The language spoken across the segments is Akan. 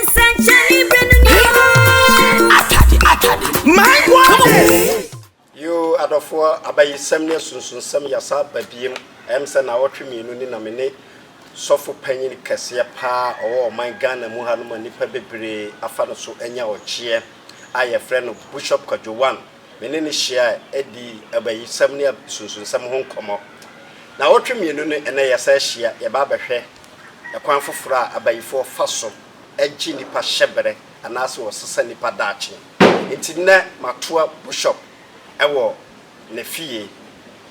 Nsɛnkyerɛnne bere no ni hɔ. Atade, atade, my goodness! Yoo adɔfoɔ abayisɛm ne asunsunsɛm yasa aba biem ɛyɛm sɛ naawɔtwe mmienu ni na me ne sɔfo panyin kɛseɛ paa ɔwɔ ɔman Ghana mu hanom a nnipa bebree afa no so anya ɔgyeɛ a yɛfrɛ no Bushop Kwadwo One Me ne no hyiae dii abayisɛm ne asunsunsɛm ho nkɔmmɔ. Nnawɔtwe mmienu ne nnɛ yɛasan ahyia, yɛreba abɛhwɛ kwan foforo a abayifo fa so gye nnipa hyɛ bere anaasɛ wɔsesa nnipa daakye. Enti nnɛ matoa Bushop wɔ ne fie.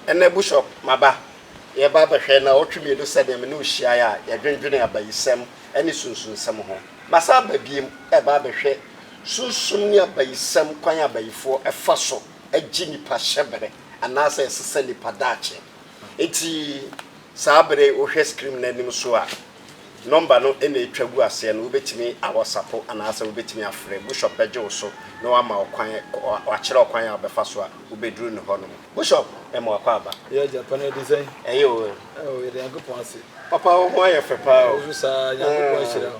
Ɛnnɛ Bushop, maba. Yɛreba abɛhwɛ nnawɔtwe mmienu sɛnea me ne wo hyiae a yɛdwendwenee abayisɛm ne sunsunsɛm ho. Masan aba bio reba abɛhwɛ. Sunsum ne abayisɛm kwan a abayifoɔ fa so gye nnipa hyɛbere anaasɛ ɛsesa nnipa daakye. Enti saa bere yi wohwɛ screen no anim so a nɔmba no na ɛtwa gu aseɛ no, wobɛtumi awasapo anaasɛ wobɛtumi afrɛ. Bushɔp bɛgye wo so na wama wo kwan, wakyerɛ wo kwan a wobɛfa so a wobɛduru ne hɔ nom. Bushɔp, yɛma wo akɔ aba. Yɛ Japan no ɛde sɛn? Ɛyɛ o. Ɛwɔ yɛda Nyankopɔn ase. Papa wo ho ayɛ fɛ paa o. Wo nso saa Nyankopɔn ahyira wo.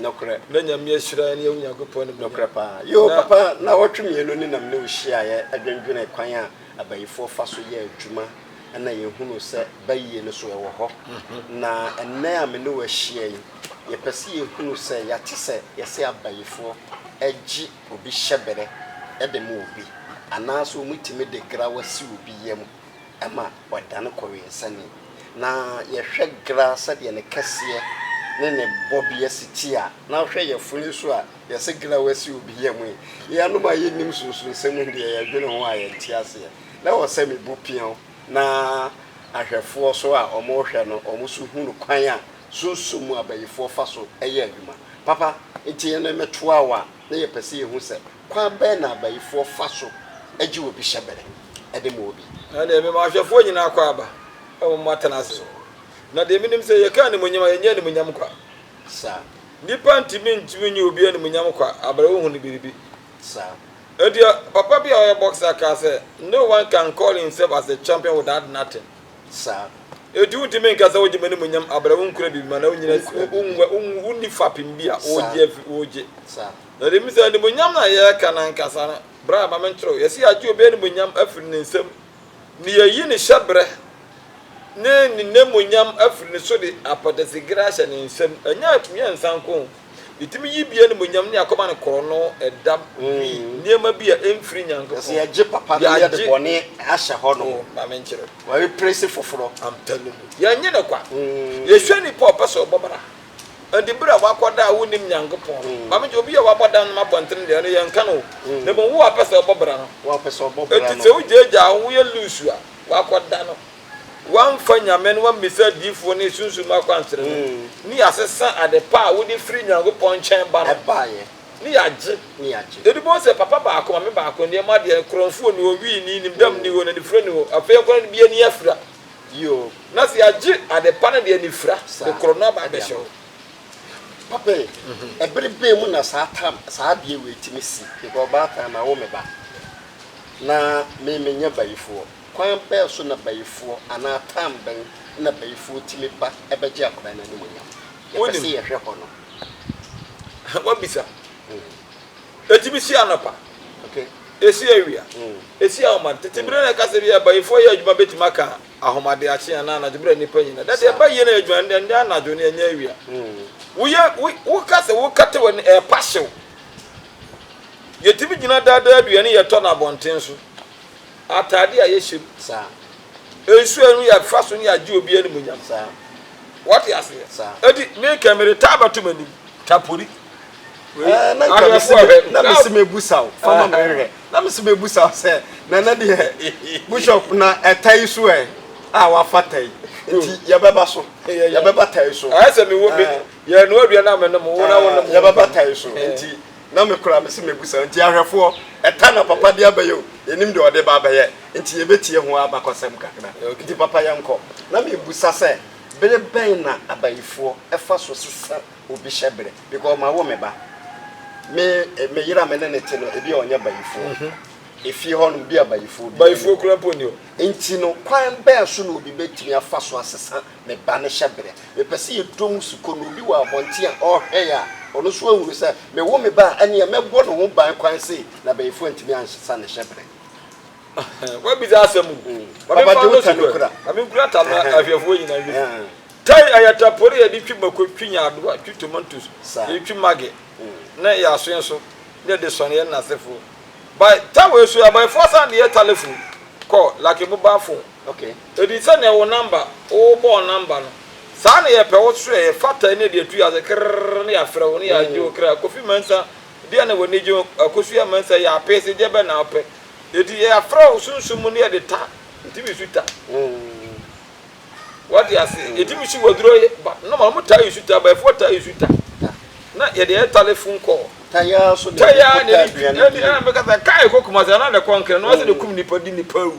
Nokorɛ. Na Nyame ahyira ne Onyankopɔn animuonyam. Nokorɛ paa. Yoo, papa, nnawɔtwe mmienu ni na me ne wo hyiaeɛ dwendwenee kwan a abayifoɔ fa so yɛ adwuma na yɛhunuu sɛ bayie no so ɛwɔ hɔ. Na ɛnnɛ a me ne wo ahyia yi, yɛpɛ sɛ yɛhunu sɛ yɛate sɛ yɛse abayifoɔ gye obi hyɛberɛ de ma obi, anaasɛ wɔtumi de grawa si obi yam. ɛma wɔdan kɔ wiɛnsa ni, na yɛhwɛ gra sɛdeɛ ne kɛseɛ ne ne bɔbeɛ si teɛ a, na hwɛ yafunu nso a yɛse gra wasi obi yam yi, yɛnom a yɛnnim sunsunsɛm yi deɛ yɛdwene ho a yɛnte aseɛ, na ɛwɔ sɛ me bu peaw na ahwɛfoɔ so a wɔrehwɛ no wɔn nso hunu kwan a sunsum mu abayifoɔ fa so yɛ adwuma papa, nti yɛn metoa wo a na yɛpɛ sɛ yɛhu sɛ. Kwan bɛn na abayifoɔ fa so gye obi hyɛ bere de ma obi? Ɛnde, mema ahwɛfoɔ nyinaa akwaaba, ɛwom, wɔatena ase. Na deɛ menim sɛ, yɛka animuonyam a, yɛnyɛ animuonyam kwa. Saa. Nnipa ntumi ntumi nyɛ obi animuonyam kwa berɛ wɔhunu biribi. Saa. Ɛnti, papa bi a ɔyɛ boxer kaa sɛ, No one can call himself as a champion without nothing. Saa. Ɛnti, wontumi nka sɛ wogye m'animuonyam berɛ wonkura biribi mu anaa wonnyina, wonni fapem bi a wogye. Saa. Na ɔde bisa, Animuonyam na yɛreka no ankasa no, bra, ma menkyerɛ wo. Yɛse yɛagye obi animuonyam afiri ne nsam, ne yɛayi ne hyɛberɛ ne ne namuonyam afiri ne so de apɔdasegere ahyɛ ne nsam. Ɛnyɛ a ɛtumi yɛ nsa nko o, yɛtumi yi bi animuonyam ne akoma ne korɔno, ɛdam, dwi, nneɛma bi a ɛmfiri Nyankopɔn. Yɛse yɛagye papa no yɛde bɔne ahyɛ hɔ nom. Oh, ma menkyerɛ wo. W'awiprese foforɔ. I'm telling you. Yɛnnye no kwa. Yɛhwɛ nipa a ɔpɛ sɛ ɔbɔ bra. Ɛnde bere a woakɔ da a wunnim Nyankopɔn no, ma migye obi a wabɔ da no ma abɔnten deɛ no, yɛnka no o, na mmom wo a wopɛ sɛ wobɔ bra no. Enti sɛ wugyaagyaa wo ho, woyɛ lusu a, woakɔ da no. Woamfa Nyame no, woammisa adiyifoɔ ne sunsum mu akwankyerɛ no, ne yɛasesa ade pa a wode firi Nyankopɔn nkyɛn ba no, ne yɛagye. Yɛde bɔɔ sɛ, Papa baako, Mame baako, nneɛma deɛ, korɔmfoɔ nni hɔ, wii nni, nim dam nni hɔ, na anifira nni hɔ, afei ɛnkɔ na ne bia nni afira. Bio, na sɛ yɛagye adepa no de anifira koro no aba abɛhyɛ hɔ. Papa ei, ɛbere bɛn mu na saa tam, saa adeɛ wei tumi si? Mepɛ ɔbaatan, mawo me ba, na me menyɛ bayifoɔ. Kwan bɛn so na bayifoɔ anaa tam bɛn na bayifoɔ tumi ba bɛgye akwadaa no animuonyam? Yɛpɛ sɛ yɛhwɛ hɔ no. Woabisa. Ɛtumi si anɔpa, ɛsi awia, ɛsi ahoma. Tete bere na ɛkasa bi a bayifoɔ yɛ adwuma bɛtumi aka ahomadeakye anaa anadwo bere a nnipa nyinaa da. Deɛ ɛba yie na ɛyɛ adwuma no, ɛnyɛ anadwo na ɛnyɛ awia. Woyɛ, wo, woka sɛ wokata w'ani, ɛrepa hyew. Yɛtumi gyina daa da aduane yɛtɔ no abɔnten so, atade a yɛhyɛ mu. Nsuo no yɛ fa so ne agye obi animuonyam saa. Wate aseɛ? Eti me kɛ mede taa bɛto m'anim. Tapori. Wei, ahwɛfoɔ ahwɛ. Na mesi mebusa wo, fa ma menhwɛ. Na mesi mebusa wo sɛ, na na deɛ, Bishop, na ɛta yi so ɛ? A, wafa ta yi. Nti yɛbɛba so. Yɛbɛba ta yi so. Ayɛ sɛ mewɔ bi. Yɛnoa aduane a menom, wo na wonom. Yɛbɛba ta yi so. Nti. Na me koraa mese mɛbusa. Nti ahwɛfoɔ, ɛta na papa de abɛyɛ o, yɛnim deɛ ɔde ba abɛyɛ, nti yɛbɛtie ho abakɔsɛm kakra. Nti papa yɛnkɔ. Na mebusa sɛ, bere bɛn na abayifoɔ fa so sesa obi hyɛberɛ? Because mawo me ba. Me me yere a me ne no te no, ebia ɔnyɛ bayifoɔ. Efie hɔ no, obi a bayifoɔ biara nni hɔ. Bayifoɔ koraa mpo nni hɔ. Nti no, kwan bɛn so na obi bɛtumi afa so asesa ne ba no hyɛ berɛ. Mepɛ sɛ yɛdɔ mu su kɔ na obi wɔ abɔnten a ɔrehwɛn a, ɔno nso ahunu sɛ mewo me ba a, ɛnneɛ mɛbɔ ne ho ban kwan sei na abayifoɔ antumi ansa ne hyɛ berɛ. Wabisa asɛm o. Ma me mfa no so kura. Ma me nkura ta no ahwɛfoɔ nyinaa nhwɛ bi. Tai ɛyɛ tapori a yɛde twi mako, twi nyaadoa, twi tomantos, yɛde twi maggi ne yɛn asoɛ nso na yɛde sɔn yɛn nnasefoɔ. By ta wei so, abayifoɔ san de yɛ ta lefo kɔ Lac Mobile Phone. Ok edi sɛ nea wo number wo bɔɔ number no saa na yɛpɛ wo srɛ yɛ fata ɛne ɛde atu yɛ ase krerr ne yɛafrɛ wo ne yɛagye wo kra Kofi Mansa deɛ na w'ani gye ho Akosua Mansa yɛ apeese deɛ bɛn na wopɛ enti yɛafrɛ wo sunsum mu ne yɛde ta ntumi su ta wate ase yɛtumi si w'aduro yɛ ba normal ɔmo taa yi su ta abayifoɔ taa yi su ta na yɛde yɛ telephone call ta yɛ ara so na yɛde kɔ ta aduane bi ɛna mekasa kaa ɛkɔ Kumasi anaa na ɛkɔ Nkran na wɔn sɛ na ɛkum nipa di nipa awu.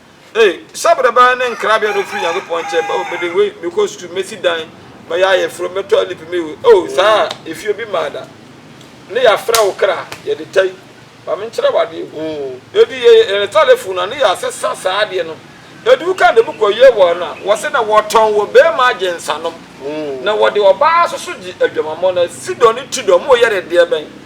Ei, hyɛbrɛ bɛn ne nkrabea na ofiri Nyankopɔn nkyɛn ba? O, mede wei, mekɔ sukuu, mesi dan, mɛyɛ ayeforo, mɛtɔ lip, mewe. O, saa a, efi obi mmaa da. Ne yɛafrɛ wo kra, yɛde tɛi. Ma menkyerɛ wo adeɛ, huu. Edu yɛ, yɛ ne talefon no a, ne yɛasesa saa adeɛ no. Edu wo kanda mu kɔ yɛ wɔ no a, wɔse na wɔtɔn wɔ beema agye nsanom, huu. Na wɔde ɔbaa nso so gye adwamammɔ no. Sidon ne Tidon, moyɛ ne deɛ bɛn?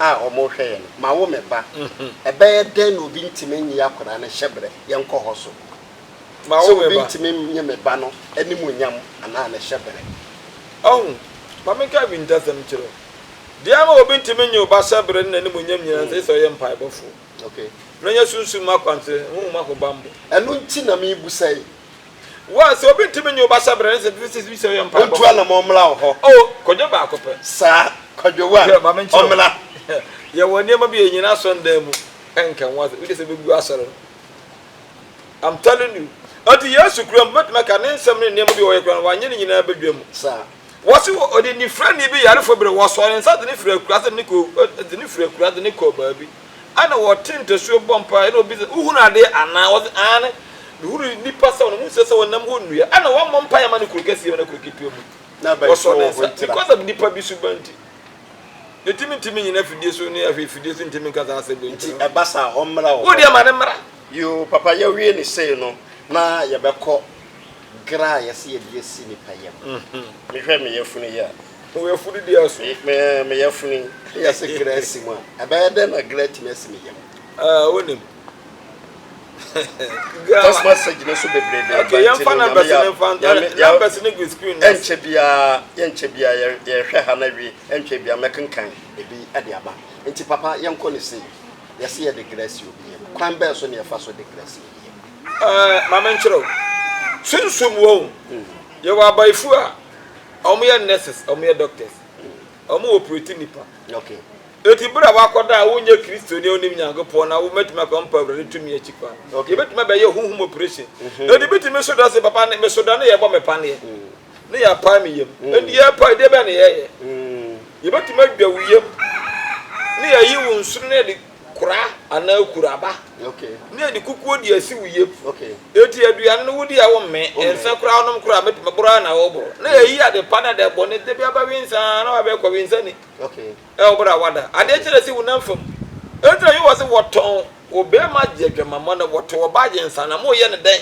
a wɔrehwɛ yɛn no, Mawo me ba. Ɛbɛyɛ dɛn na obi ntumi nyi akwadaa no hyɛbrɛ? Yɛnkɔ hɔ so. Sɛ obi ntumi nnye me ba no animuonyam anaa ne hyɛbrɛ. Ɔho, ma menka bi ntasɛm nkyerɛ wo. Deɛ ama obi ntumi nnye wo ba hyɛbrɛ ne n'animuonyam nyinaa no, ɛsɛ sɛ ɔyɛ mpaebɔfoɔ, na ɔnya sunsum mu akwankyerɛ, honhom ahobammɔ. Ɛno nti na merebisa yi, Why sɛ obi ntumi nyɛ ɔbasa brɛ ne sɛ fifty six bi sɛ ɔyɛ mpaebɔ. Ɔntu anamɔ ɔmmra wo hɔ. Oh kwadwo baako pɛ. Saa kwadwo wa Hwɛ maame nkyerɛ wo. ɔmmra. Yɛwɔ nneɛma bi a yɛnyina asɔre dan mu nka ho asɛm. Wode sɛ bɛgu asɔre no. I'm telling you. Enti Yesu kura mu, mɛtumi aka ne nsɛm ne nneɛma bi a ɔyɛ koraa no, wanyɛ ne nyinaa badwa mu. Saa. Wɔse odidifirani bi yarefo bere wɔsɔɔ ne nsa de no firi akuraa sɛ ne kɔ de no firi akuraa de no kɔɔ baabi ɛna wɔte ntasuo bɔ mpaeɛ ɛna obi sɛ wohunu adeɛ anaa wɔse aane mehunu nipa sɛ wɔn mu sɛ sɛ wɔnam hɔ nnua ɛna wɔmmɔ mpaeɛ mma no kuro kɛseɛ mu na kuro ketewa mu wɔsɔɔ ne nsa because of nipa bi suban nti ɛtumi ntumi nyina afidie so ne ahwɛ afidie so ntumi nka saa asɛm nti ɛba saa ɔmmra wɔ hɔ wodeɛ ma ne mmra yoo papa yɛwie ne sei no na yɛbɛkɔ Gra a yɛse yɛde asi nipa yam. Mehwɛ me yafunu yi a. Wo yafunu deɛ aso. Me me yafunu yi. Yɛse gra asi mu a. Ɛbɛyɛ dɛn na gra atumi asi me yam? Ah, wonim. Text message no so bebree bɛn okay, yɛn fa numbers ne fa numbers ne gu screen no ɛnkyɛ biara yɛnkyɛ biara yɛhwɛ ha na wie ɛnkyɛ biara mɛkenkan ebi ɛde aba nti papa yɛnkɔ ne sei yɛse yɛde grasi obi yam kwan bɛɛ so ne yɛfa so de grasi Ɛɛ, ma menkyerɛ wo. Sunsum wɔ ho. Yɛwɔ abaefo a wɔyɛ nurses, wɔyɛ doctors. Wɔn operate nnipa. Enti bere a woakɔda a wonyɛ Kristoni a wonim Nyankopɔn na womatumi akɔ mpa Awurade tumi akyi kwan no, yɛbɛtumi abɛyɛ honhom operation. Na de bɛtumi so da se, papa, ne meso da ne yɛbɔ me paneɛ, ne yɛapae me yam. Enti yɛrepae, deɛ bɛn na yɛyɛ? Yɛbɛtumi adwa wo yam, ne yɛayi wo nsono na yɛde Kora anaa kuraba ne anikukuo de asi wo yam. Enti aduane no wodi a wommee, ɛnsɛ koraa wonom kora a, mepem boro ara na woboro. Na yɛyi ade pa ne ade bɔne da biara bɛwensa ara na wabɛyɛ kɔwensani wɔ bere a wada adeɛ kyɛ no asi wo nan fam. Enti na Yehowa se, Wɔtɔn wo barima gye adwamammɔ no, wɔto wo ba gye nsã, na moreyɛ no dɛn?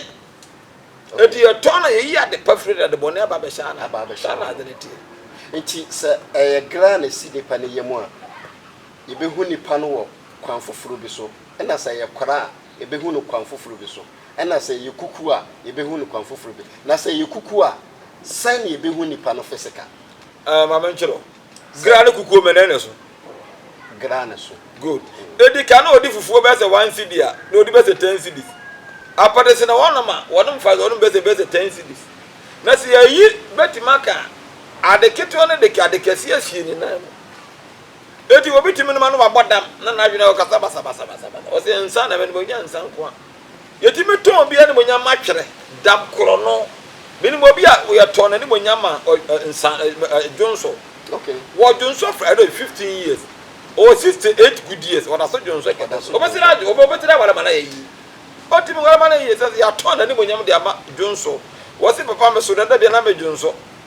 Enti yɛtɔn no a, yɛyi ade pa firi no, na ade bɔne aba abɛhyɛ anan. Saa na ade no teɛ. Enti sɛ ɛyɛ gra na ɛsi nipa no yam a, Yebehu nnipa no wɔ kwan foforo bi so, ɛna sɛ ɛyɛ kora a, yebehu no kwan foforo bi so, ɛna sɛ ɛyɛ kuku a, yebehu no kwan foforo bi. Na sɛ ɛyɛ kuku a, sɛn na yebehu nnipa no fisika? Ɛɛ, ma menkyerɛ wo. Gra ne kukuo mmɛnɛn ne so. Gra ne so. Good. Edi kan no wɔde fufuo bɛyɛ sɛ one cedi a, na wɔde bɛyɛ sɛ ten cedis. Apɛde sene wɔnom a, wɔnom fa wɔnom bɛyɛ sɛ ɛbɛyɛ sɛ ten cedis. Na sɛ yɛyi bɛtumi aka ade ketewa no de ade kɛseɛ asie ne nan mu. Enti obi tumi nom a na wabɔ dam na n'adwene a ɔkasa basabasabasabasa. Ɔse nsa na menom, ɔnya nsa nko a. Yɛtumi tɔn obi animuonyam ma twerɛ, dam korɔ no. Menim obi a yɛtɔn n'animuonyam ma nsa, dwonso. Wɔ dwonso for I don't know, 15 years. Ɔwɔ 68 good years, ɔdaso dwonso kɛda so. Obɛsere adwo, obi obɛtiri aware ma no ayɛ yie. Ɔtumi ware ma no ayɛ yie, sɛ yɛatɔn n'animuonyam de ama dwonso. Ɔse papa meso dada bia na medwonso.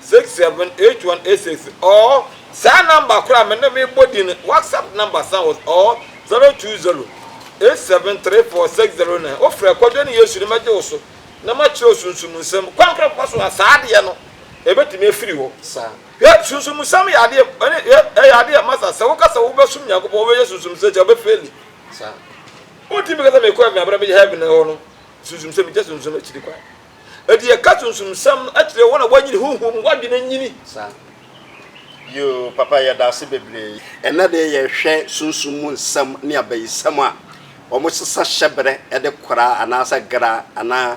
Six seven eight one eight six or saa number koro a me ne me bɔ din no whatsapp number san wɔ so or zero two zero eight seven three four six zero nine wo frɛ kwadwo ne yesu ne mɛgye wo so na ma kyerɛ wo sunsum nsɛm kwan koro kɔ so a saa adeɛ no ɛbɛtumi afiri hɔ saa hwɛ sunsum nsɛm yɛ adeɛ ɛne hwɛ ɛyɛ adeɛ masa sɛ wo ka sɛ wo bɛ sum nyankopɔn wo bɛ yɛ sunsum sɛ kyɛ wo bɛ feli saa wo ti mi ka sɛ mi kɔ ɛmi abira mi yɛ heaven hɔ no sunsum sɛ mi kyɛ sunsum akyiri kwan. Enti yɛka sunsumsɛm no kyerɛ wɔn a wɔanyini honhom mu, wɔadwene anyini. Saa. Yoo, papa, yɛda ase bebree. Ɛnnɛ deɛ yɛhwɛ sunsum mu nsɛm ne abayisɛm a, wɔsesa hyɛberɛ de kora anaasɛ gra anaa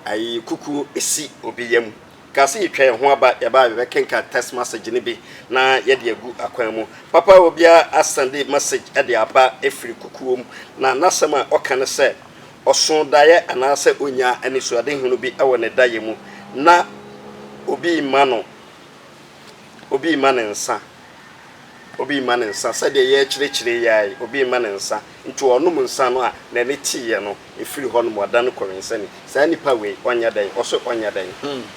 ayi kukuo si obi yam. Ka sɛ yɛtwa yɛn ho aba, yɛba a yɛbɛkenkan text message no bi na yɛde agu akwan mu. Papa, obiara asɛnde message de aba firi kukuo mu, na n'asɛm a ɔka ne sɛ, Ɔso daeɛ anaasɛ ɔnya anisoadehunu bi wɔ ne daeɛ mu na obi rema no obi rema no nsa, obi rema no nsa, sɛdeɛ yɛrekyerɛkyerɛ yi ara yi, obi rema no nsa, nti ɔnom nsa no a, n'ani teeɛ no, ɛfiri hɔnom, ɔdane kɔwensani. Saa nipa wei, ɔnyɛ dɛn? Ɔse ɔnyɛ dɛn?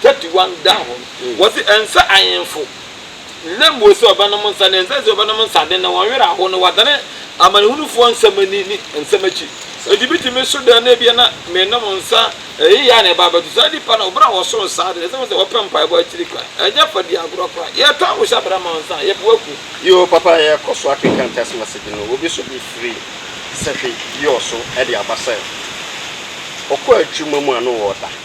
thirty one da hɔ no, wɔsi ɛnsɛ ahenfo, na mmom sɛ wɔbɛnom nsa, na ɛnsɛ sɛ wɔbɛnom nsa den, na wɔn werɛ ahow, na wɔadane amanehunufoɔ nsɛm ani ne nsɛm akyi. Enti metumi meso dɛn na ebia na menom nsa ɛyɛ yea na ɛba abɛto saa nnipa no a bere a wɔso nsa ade no, ɛsɛ sɛ wɔpɛ mpaebɔ akyiri kwan. Ɛnyɛ fa di agorɔ koraa. Yɛtɔ ahohyɛbrɛ ma nsa a, yɛpɛ wakum. Yoo, papa, yɛkɔ so akenkan text message no, obi so bi firi sahwi yɔɔ so de aba sɛ ɔkɔ adwuma mu a na ɔreda.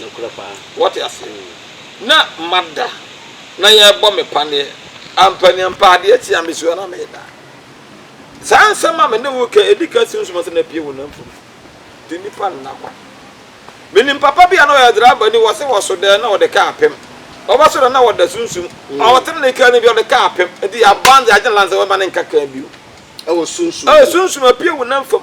Nokorɛ paa. Wate aseɛ? Na mada na yɛrebɔ me paneɛ. Ampaneampa adeɛ kye a mesua na meda. Saa nsɛm a me ne wo reka, ɛdi ka si wo som ase na ɛpue wo nam fam. Nti nnipa nna kwa. Menim papa bi a na ɔyɛ driver ni, wɔse ɔso dɛn na ɔde kaa pem. Ɔbɛso dɛn na ɔda sunsum. Ɔtene ne kaa no bi, ɔde kaa pem. Nti aban de agye ne license, wɔmma no nka kaa bio. Ɛwɔ sunsum mu. Ɛwɔ sunsum mu, ɛpue wo nam fam.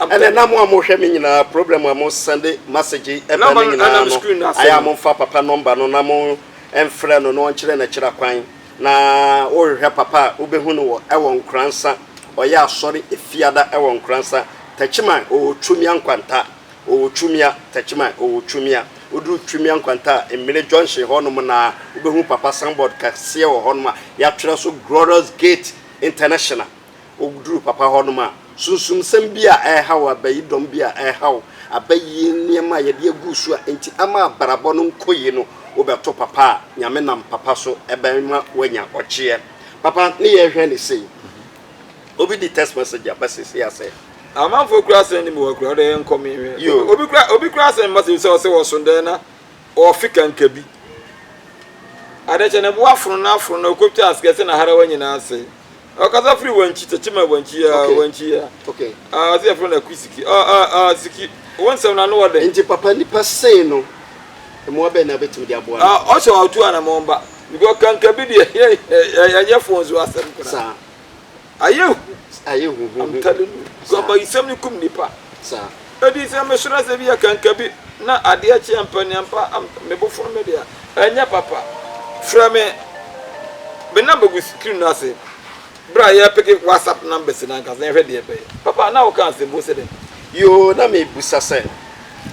Ɛnɛ na mo a mo hwɛ me nyinaa program a mo sɛnde masegye ɛbɛ no nyinaa no ayɛ a mo nfa papa nɔmba no na mo nfrɛ no na ɔnkyerɛ nakyira kwan na wo hwehwɛ papa a wo bɛ hu no wɔ ɛwɔ nkoransa ɔyɛ asɔre efiada ɛwɔ nkoransa takyiman ɔwɔ twumia nkwanta ɔwɔ twumia takyiman ɔwɔ twumia wo duru twumia nkwanta a mmire junction hɔ nom na wo bɛ hu papa sanbɔd kɛseɛ wɔ hɔ nom a yatwerɛ so glorious gate international Woduruu Papa hɔnom a, sunsumsɛm bi a ɛrehaw abayi, dɔm bi a ɛrehaw abayi, nneɛma a yɛde agu so a enti ama abrabɔ no nkɔ yie no, wobɛto Papa a, Nyame nam Papa so bɛma woanya ɔgyeɛ. Papa ne yɛrehwɛ no sei. Obi de text message aba seesei a sɛ. Amanfoɔ kura asɛm no mu hɔ koraa, wode nkɔ menhwɛ. Yoo. Obi kura obi kura asɛm ma sɛ ɔsɛ wɔso dɛn na ɔfe kanka bi. Adekyɛ no bo afono no afono na ɔkɔtwa asekɛse na harawa nyinaa sɛe. Ɔkasa firi wankyi tɛkyɛ ma wankyi ya okay. wankyi ya. Okay. Ah, ɔsi ɛfrɛ na kui siki. Ah ah ah siki. Wɔn nsɛm na ano wɔ dɛ. Nti papa nipa sɛn no. Mmoa bɛn na bɛtumi de aboa no. Ah, ɔsɛ ɔtu anamɔn ba. Because kanka bi deɛ yɛ yɛ yɛ yɛ fon so asɛm kura. Saa. Ayɛ hu. Ayɛ hu hu hu. I'm telling you. Saa. Gɔmba isɛm ni kum nipa. Saa. Edi sɛ mesrɛ sɛ ebia kanka bi na adeɛ kye ampa ni ampa a me bo foro me de a, ɛnyɛ papa. Frɛ me. Me number gu screen no ase berɛ a yɛrepeke WhatsApp numbers no ankasa na yɛhwɛ deɛ ɛbɛyɛ. Papa, na woreka asɛm bi, wose dɛn? Yoo, na merebisa sɛ,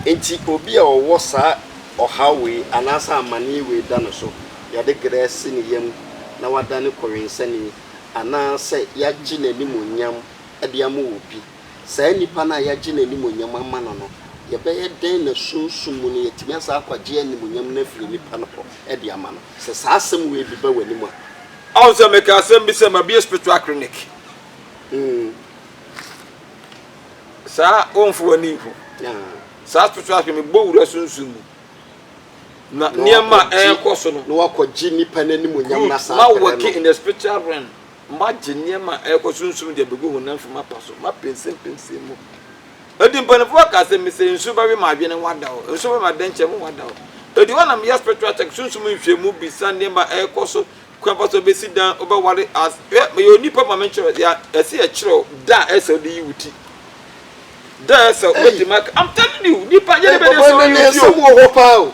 enti obi a ɔwɔ saa ɔhaw wei anaasɛ amanneɛ wei da no so, yɛde grɛ asi ne yam na wadane kɔwensani, anaasɛ yɛagye n'animuonyam de ama obi? Saa nipa no a yɛagye n'animuonyam ama no no, yɛbɛyɛ dɛn na sunsum mu no yɛatumi asan akɔgye animuonyam no afiri nipa no hɔ de ama no? Sɛ saa asɛm wei bi ba w'anim a. Ahu sɛ mekaa asɛm bi sɛ mabue spiritual clinic. Saa womfa w'ani nhu. Saa spiritual clinic mebɔ wura sunsum mu. Na nneɛma a ɛrekɔ so no. Na wakɔgye nipa no animuonyam na saa pɛrɛ no. Ma wɔke in the spiritual realm. Moagye nneɛma a ɛrekɔ so nsu mu de abegu honam fam apa so, moapemsempemsem mu. Enti mpanyimfo aka sɛ mise nsu bɛwe mo adwene, wɔadaw. Nsu bɛwe mo adɛnkyɛm, wɔadaw. Enti hɔ na meyɛ spiritual check, sunsum nhwehwɛmu, bisa nneɛma a ɛrekɔ so, kwan pa so obesi dan, wobɛware as, hwɛ meyɛ onipa ma menkyerɛw, yɛ a ɛsɛ yɛkyerɛw da a ɛsɛ sɛ wode yi wo ti. Da a ɛsɛ sɛ wobetumi aka, I'm telling you, nnipa yɛ de bɛyɛ sɛ wɔyi wo ti o.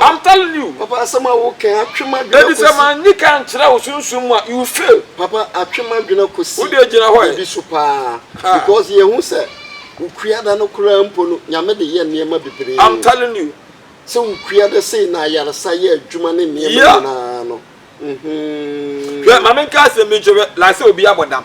I'm telling you. Papa asɛm a wo kɛn atwe ma dwena kosi. Ebi sɛ ma nyi ka nkyerɛ wo sunsun mu a you fail. Papa atwe ma dwena kosi. Wo deɛ gyina hɔ ɛ. Ebi so paa. Because yɛ hu sɛ wo kua da no koraa mpo no nyame de yɛ nneɛma bebree. I'm telling you. Sɛ wo kua da sei na ayaresa yɛ adwuma ne nneɛma nyinaa no. Hwɛ ma me nka asɛm bi nkyerɛ wo like sɛ obi abɔ dam.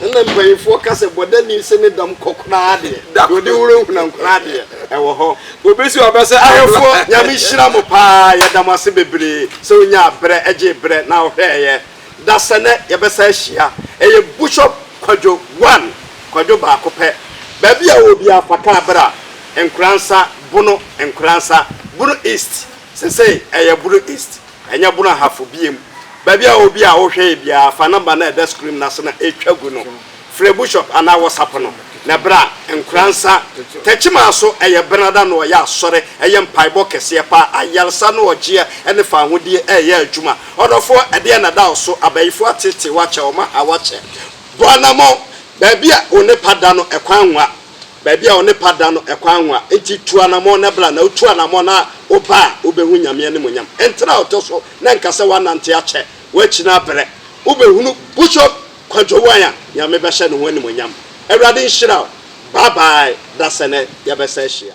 Nna mpanyimfoɔ ka sɛ bɔdani se ne dam kɔ koraa deɛ, deɛ ɔde wura huna nkoraa deɛ, ɛwɔ hɔ. Wɔbɛsi aba sɛ ahemfoɔ. Nyame nhyira mo paa, yɛda mo ase bebree sɛ wonyaa berɛ gyee berɛ na wohwɛɛeɛ. Dasɛnɛ yɛbɛsan ahyia. Ɛyɛ Bushop Kwadwo one, Kwadwo baako pɛ. Baabi a wowɔ biara fa kaa bra, Nkoransa, Bono, Nkoransa, Bono East, sesei ɛyɛ Bono East. Ɛnyɛ bono ahafo biem. Baabi a obi a wohwɛe biara, fa nɔmba no a ɛda screen no ase no a etwa gu no frɛ Bushop anaa wɔsapo no na bra. Nkoransa Takyimaa so yɛ Benada na ɔyɛ asɔre, ɛyɛ mpaebɔ kɛseɛ paa, ayaresa ne ɔgyeɛ ne fawohodie reyɛ adwuma. Ɔdɔfoɔ, ɛdeɛn na ɛda wo so? Abayifoɔ ateetee wo akyɛ, wɔn aha wo akyɛ. Bɔ anamɔn, baabi a onipa da no, ɛkwan nwa. Baabi a ɔne pa da no ɛkwan nwa, enti tu anamɔn na bra, na wotu anamɔn na woba a, wobɛhu Nyame animuonyam. Ntena a ɔtɔ so na nka sɛ woanante akyɛ, woakyina berɛ, wobɛhunu Bushop Kwadwo Wan a Nyame bɛhyɛ ne ho animuonyam. Awurade nhyira wo, bye bye, dasɛnɛ yɛbɛsan hyia.